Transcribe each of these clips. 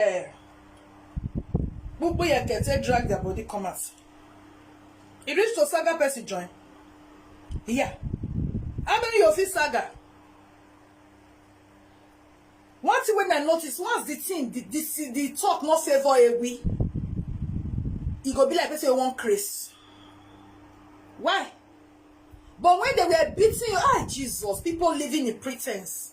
eh, gbogbo yẹn kẹtẹ drag their body come out e reach to saga person join yeah how many you fit saga one thing wey i notice once the thing the the the talk no favour ewi e go be like person wey wan craze why but when they were beating you ah jesus people living in pretense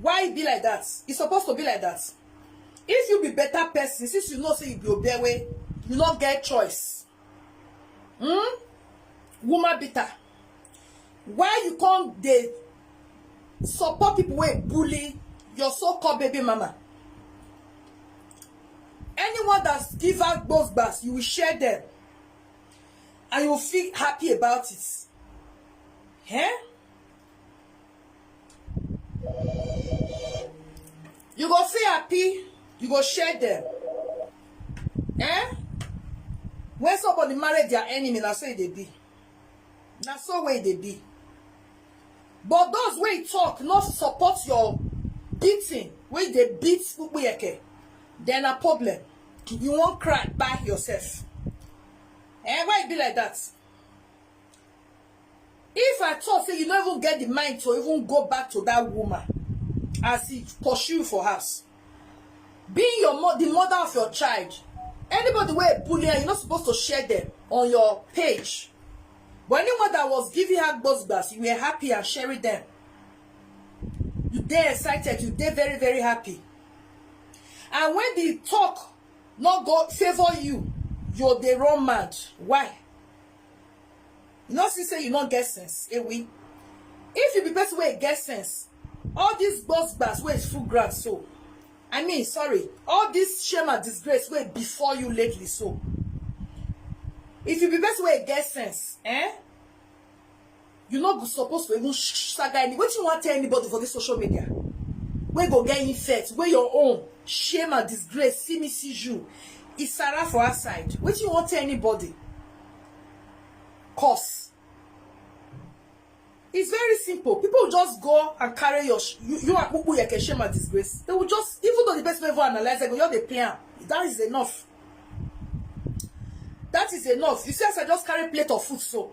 why e be like that e suppose to be like that if you be better person since you know say you be obewe you no get choice hmm woman bitter why you come dey support people wey bully your so-called baby mama anyone that give her gbos gbas you will share them and you feel happy about it eh you go feel happy you go share them eh when somebody marry their enemy na so e dey be na so wey e dey be but those wey talk no support your beating wey dey beat kpukpuyeke dem na problem you wan cry kpai yourself eh why e be like that if i talk say you no even get the mind to even go back to that woman as he pursue you for house being your mo the mother of your child anybody wey bully her you no suppose to share them on your page but anyone that was giving her gbosgbas you were happy and sharing them you dey excited you dey very very happy and when the talk no go favour you you dey run mad why you no see say you no get sense ewi if you be person wey get sense all these gbos gbas wey full ground so i mean sorry all this shame and disgrace wey before you lately so if you be person wey get sense eh You no go suppose to even shaga any wetin you wan tell anybody for this social media wey go get infect wey your own shame and disgrace see me see you isara for outside wetin you wan tell anybody cause It's very simple. People will just go and carry your sh- you, you and Pupu Yeke shame and disgrace. They will just, even though the person never analyze, they go just they play am. That is enough. That is enough. You see, as I just carry plate of food, so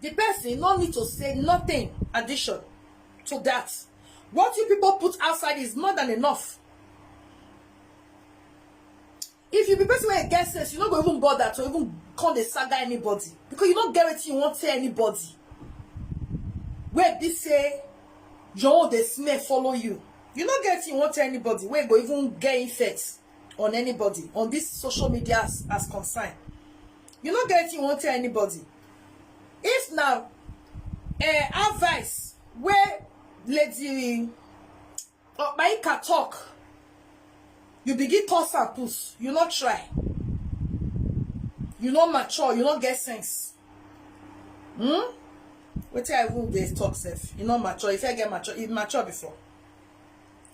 The person no need to say nothing addition to that. What you people put outside is more than enough. If you be person where you get sense, you no go even bother to even come the saga anybody because you don't get it. you won't tell anybody. Where be say your own dey smell follow you. You no get it. you won't tell anybody. Where go even get effects on anybody on this social media as, as concern. you no get you wan tell anybody if na eh, advice wey lady Opaika talk you begin curse am put you no try you no mature you no get sense hmm wetin i even dey talk sef you no mature if i get mature you mature before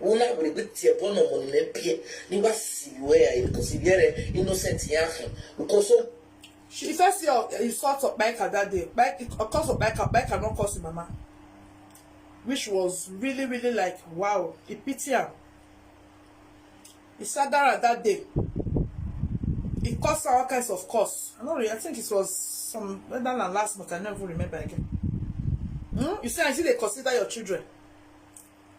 Wona were bi tie bɔ no mo ne pie ni wa si bi we ai because bi ere innocent ya ho because o She first say oh, he fought Okpaika that day. Okpaika, cause Okpaika, Okpaika not cause his mama. Which was really, really like, wow, he pity him. He sat down at that day. He caused all kinds of cause. I don't really, I think it was some, whether than last month, I never remember again. Hmm? You see, I see they consider your children.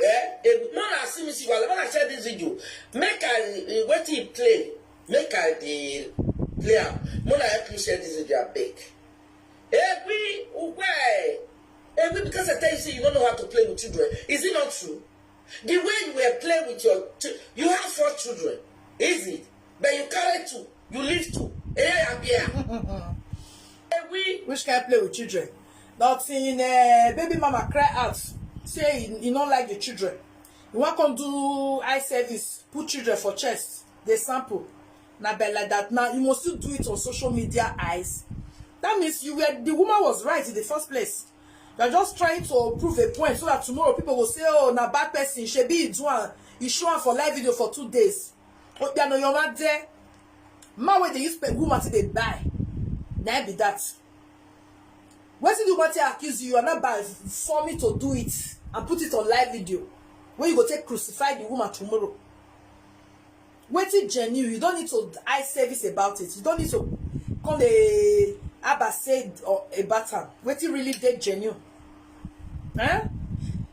eh a good man as see me see well when i share this video make i uh, wetin e play make i dey play am make una help me share this video abeg egwi ugwe egwi because i tell you say you no know how to play with children is it not true the way you were playing with your you have four children is it but you carry two you live too eh abia eh we which kind play with children not in uh, baby mama cry out say he, he no like the children he wan come do eye service put children for chest dey sample na be like that now you must still do it on social media eyes that means you were the woman was right in the first place you are just trying to prove a point so that tomorrow people go say oh na bad person shebi he do am he show am for live video for two days Obiano your man there. Man wey dey use pe woman to dey buy. Na im be that. Wetin the woman take accuse you, you are not by forming to do it and put it on live video. Wey you go take crucify the woman tomorrow. Wetin genuine, you don't need to eye service about it. You don't need to come dey aba say or about am. Wetin really dey genuine. Eh?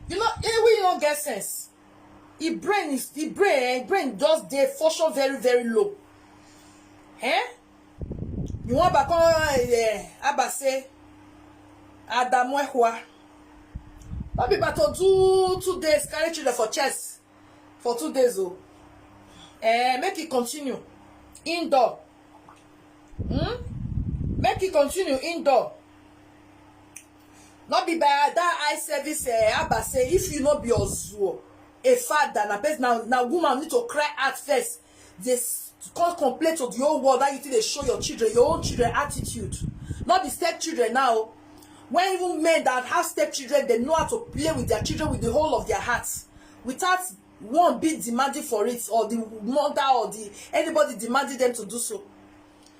You know, eh, we no get sense. e brain is e brain eh, e brain just dey function very very low eh you wan ba come eh, aba say adamu ehua no be ba to do two days carry children for chest for two days o oh. eh make e continue indoor hmm? make e continue indoor No be by dat eye service eh Abba say if you no be ozuo a father na person na na woman you need to cry out first dey come complain to the whole world how you take dey show your children your own children attitude no be step children now o when even men that have step children dey know how to play with their children with the whole of their heart without one being demanding for it or the mother or the anybody demanding them to do so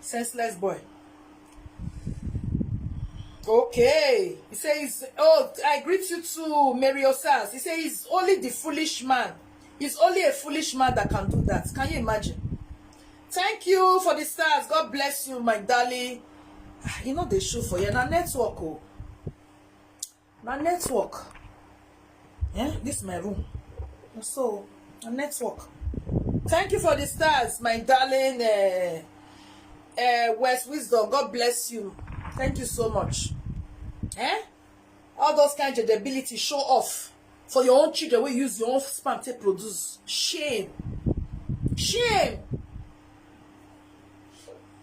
senseless boy okay he say he's oh i greet you too mary osas he say he's only the foolish man he's only a foolish man that can do that can you imagine thank you for the stars god bless you my darling ah, you know they show for you na network oh na network eh this my room na so na network thank you for the stars my darling uh, uh, west wisdom god bless you thank you so much eh all those kind of ability show off for your own children wey use your own sperm take produce shame shame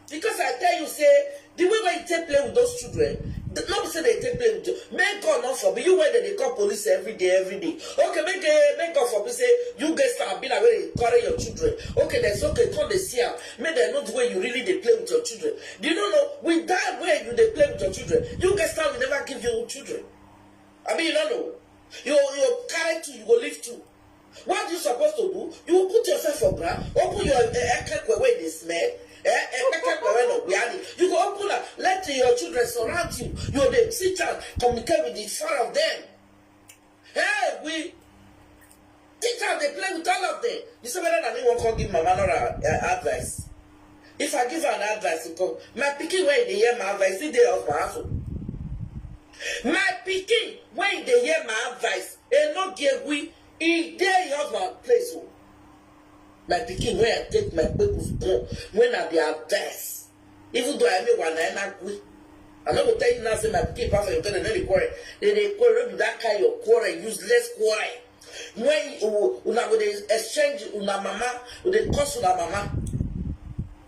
because i tell you say the way wey you take play with those children th- no be say they take play with you make god no forbid you wey dem dey call police every day every day okay make eh, make god forbid say you get star be like wey dey carry your children okay then say okay come dey see am make dem know the way you really dey play with your children do you no know with that way you dey play with your children you get star will never give you children abi you no know you you carry two you go leave two What you suppose to do? You put yourself for ground, open your eh, eh, ekekwe wey dey smell, eh, eh, ekekwe wey no wear it. You go open am, let your children surround you. You dey teach am, communicate with the four of them. Hey, we teach am dey play with all of them. You say whether na me wan come give mama Nora uh, advice. If I give her an advice, you go, my pikin wey dey hear my advice, he dey husband house. o. My pikin wey dey hear my advice, E no get we, e dey im husband place o. My pikin wey I take my kpekus born when I be avess, even though I me wa na ena gwi. I no go tell you now say my pikin pass Oyoto dem no dey quarrel, dem dey quarrel no be that kind your quarrel useless quarrel when una go dey exchange una mama go dey curse una mama.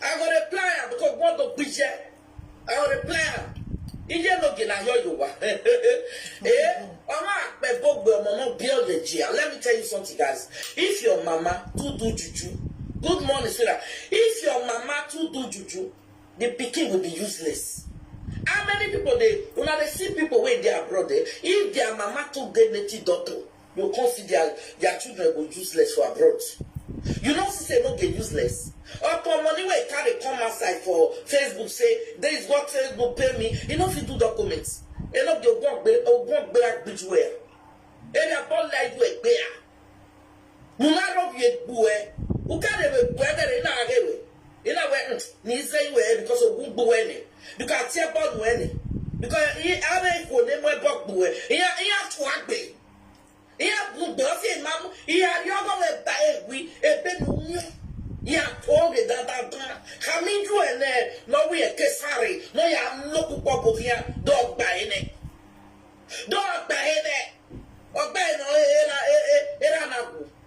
I go dey plan am because God go gbije. I go dey plan am. Iye no gina yo yo wa. Eh, ọmọ àpẹ gbogbo ọmọ náà bí ọ̀yẹ̀ jìyà. Let me tell you something guys. If your mama too do juju, good morning sweetheart. If your mama too do juju, the pikin will be useless. How many people dey una dey see people wey dey abroad eh? If their mama too dey native doctor, You come see their their children go useless for abroad. You know see say no dey useless. Upon money wey carry come outside for Facebook say there is what Facebook pay me, e no fit do documents. E no dey ogun gbe ogun gbe agbiju e. E na ball like you egbe a. Una rob ye gbu e. Ukare we gbu e na rewe. ina we ni ize iwe because ogun gbo we ni because ati ebo nu we ni because i ara iko ne mo ebo gbo we iya iya to agbe iya gun gbo fi ma mu iya ri ogo we ba ewi ebe nu nyo ya to ge da da da ka mi ju ene no we e kesare no ya no pupo bo ya do gba ene do gba ene ogba ene era era na ku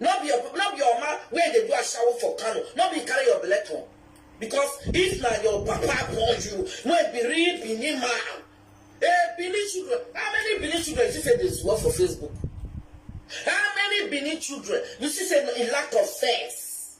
No be your no be your mama wey dey do ashawo for Kano, no be carry your belle come. Because if na your papa born you, wey be real Benin man, eh Benin children, how many Benin children you see say dey zuwa for Facebook? How many Benin children you see say e lack of sense?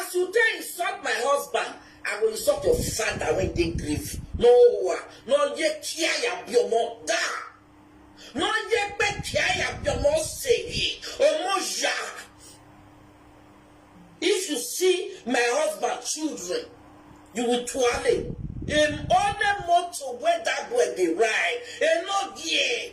As u take insult my husband, I go insult your father wey dey grave. No owa, no ye kia ya biomo da. No ye pe kia ya biomo sebi, omo ya. If you see my husband children, you will tuale. Em one motor wey that boy dey ride, e no gear.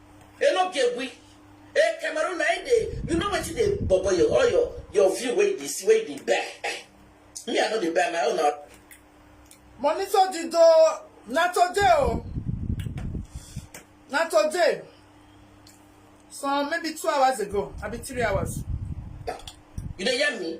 E no get we. E Cameroon na im dey, you know wetin dey bobo your all your your view wey you dey see wey you dey buy eh. Me I no dey buy my own na. Monitor Dido na today o na today some maybe two hours ago abi three hours. You dey hear me?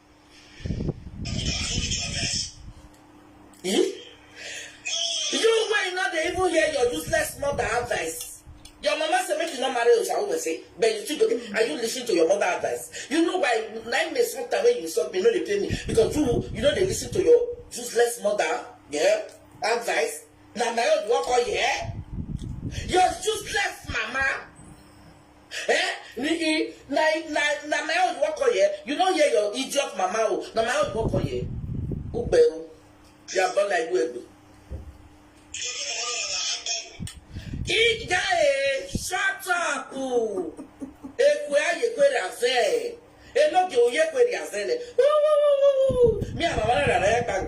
Eh? You why not they even hear your useless mother advice? Your mama said make you not marry Oshawo say, but you still go. Are you listening to your mother advice? You know why nine months not away you saw me no dey play me because you you know they listen to your useless mother yeah advice. Now my own work all yeah. Your useless mama Eh? Ni i na na na my own work on here. You don't hear your idiot mama o. Na my own work on here. Ugbe o. You are born like you egbe. Ija e shut up. Ekwe aye kwe raze. Enoge oye kwe raze le. Me and my mama na na na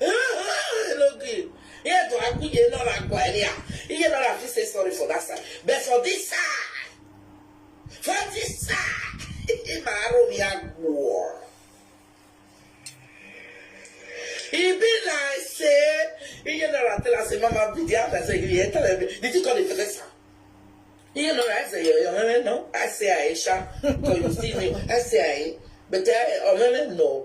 e no gree here to aku ye no na gwa elia iye no na fit say sorry for that side but for this side for this side ma aro mi agbo e be like say iye no na tell us mama be there after say iye tell me did you call the professor iye no na i say yo yo no i say aisha because you see me i say aisha but i omeme no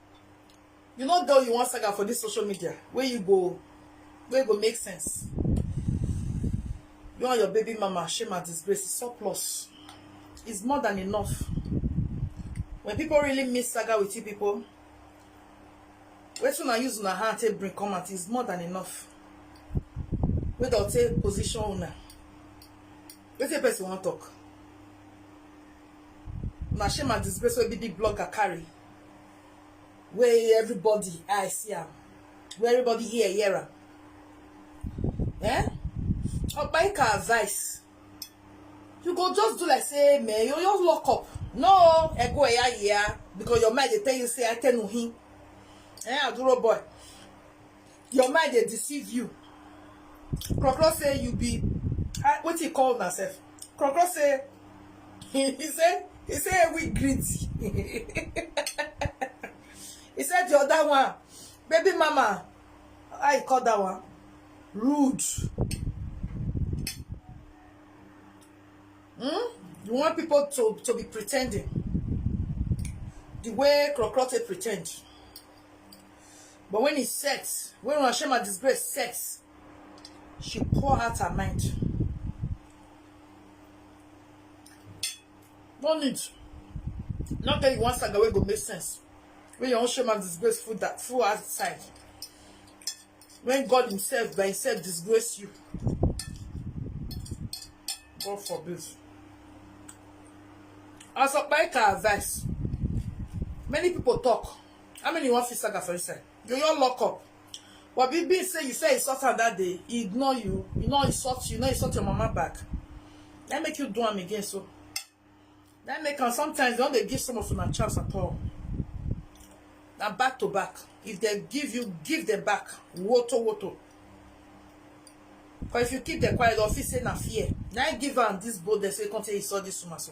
you no get what you wan saga for this social media wey you go wey go make sense you and your baby mama shame and disgrace is surplus is more than enough when people really miss saga with you people wetin una use una hand take bring come out is more than enough wey don take position una wetin person wan talk na shame and disgrace wey big big blogger carry wey everybody eye see am wey everybody hear hear am eh Obaika advice you go just do like say man you just lock up no ego eya yeah because your mind dey tell you say I tell him eh aduro boy your mind dey deceive you krokro say you be ah, wetin you call una sef krokro say he say he say we greedy he said the other one baby mama how you call that one rude hmm? you want people to to be pretending the way krokro take pretend But when e set, when una shame and disgrace set, she pour out her mind. No need. Not tell you one saga wey go make sense. When your own shame and disgrace full that full outside. When God Himself by Himself disgrace you. God forbid. As a bike advice, many people talk. How many you wan fit saga for inside? You your lock up. But be be say you say insult her that day, he ignore you, you no insult you, no insult your mama back. That make you do am again so. That make am sometimes don't they give some of una chance at all. Now back to back. If they give you, give them back. Woto woto. But if you keep the quiet, they'll feel say na fear. Now give am this boldness wey come say he saw this woman so.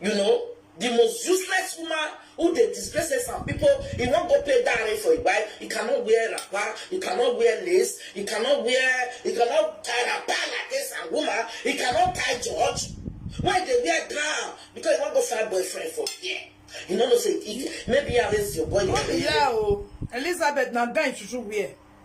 You know, the most useless woman who dey disgrace us and people, he wan go pay dowry for him wife, he cannot wear wrapper, he cannot wear lace, he cannot wear, he cannot tie wrapper like this and woman, he cannot tie George. Why dey wear gown? Because he wan go find boyfriend for here. You no know say he, maybe I raise your boy. No be here o. Elizabeth na gown you should wear.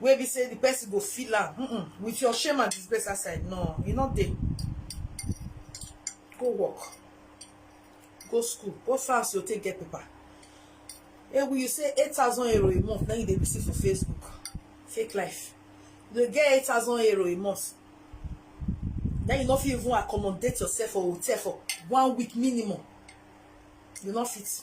wey be say the person go feel am mm -mm. with your shame and disgrace outside no e no dey go work go school go france you take get paper ewu you say eight thousand euro a month na you dey receive for facebook fake life you dey get eight thousand euro a month na you no fit even accommodate yourself for hotel for one week minimum you no fit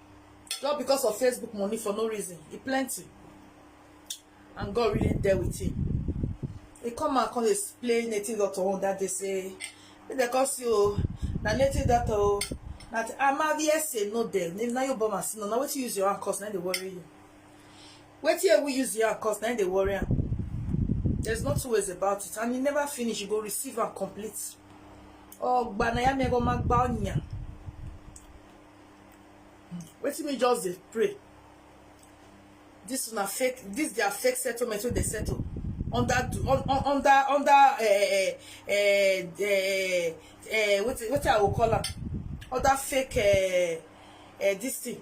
just because of facebook money for no reason e plenty and god really there with him He come out come dey play native doctor one that day say make dem come see o na native doctor o na amaviese no dem na your bomb as no na wetin use your hand cause na dey worry you wetin ewu use your hand cause na dey worry am there's no two ways about it and e never finish you go receive am complete ọgbà na ya mi ẹgbọn ma gba ọnyà wetin me just dey pray this una fake this their fake settlement wey dey settle under under under uh, uh, uh, uh, uh, wetin wetin i go call am under fake uh, uh, this thing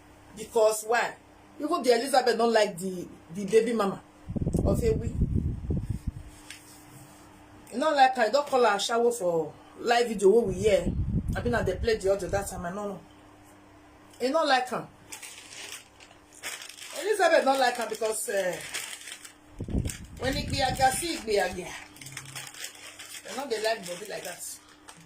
because why even the Elizabeth don't like the the baby mama of Ewi e no like her e don call her ashawo for live video wey we hear I abi na dey play the audio that time I no know e no like her. Elizabeth don't like her because uh, when he be a gassy, he be a gear. They not they like body like that.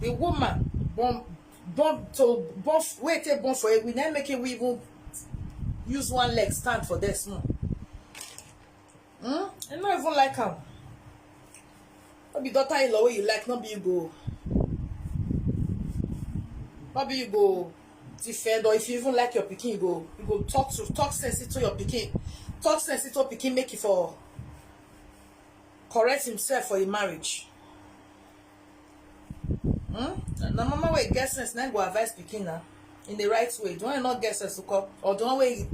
the woman born born to born wey take born for ewi na make ewi even use one leg stand for there small hmm i no even like am no be daughter in law wey you like no be you go no be you go defend or if you even like your pikin you go you go talk to talk sense into your pikin talk sense into pikin make e for correct himself for im marriage hmm? na mama wey get sense na go advise pikin na in the right way the one wey no get sense ko or the one wey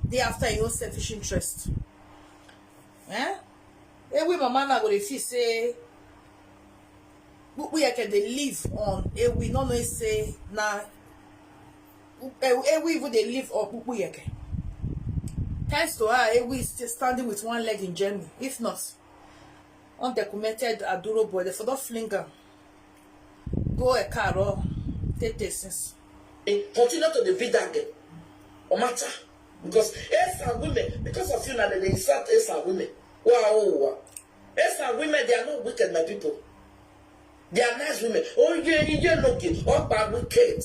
dey after im own selfish interest eh ewe mama na go dey feel say we yeke dey live on ewe no know say na ewu even dey live okpukpu yeke thanks to her ewu is still standing with one leg in germany if not undocumented aduro boy dem for don fling am go ekaro tete since. They continue to dey beat that girl or matter because esa women because of you na dem dey insult esa women wa o wa esa women they are not wicked my people they are nice women oye iye loke ọgba wicked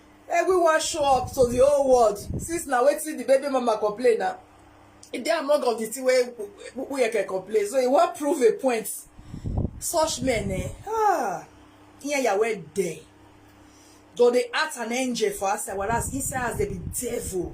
Everyone show up to the whole world since na wetin the baby mama complain na e dey among of the thing wey Uyeke complain so e wan prove a point such men eh ah ihe ya wey dey don dey act an angel for outside whereas inside house dey be devil.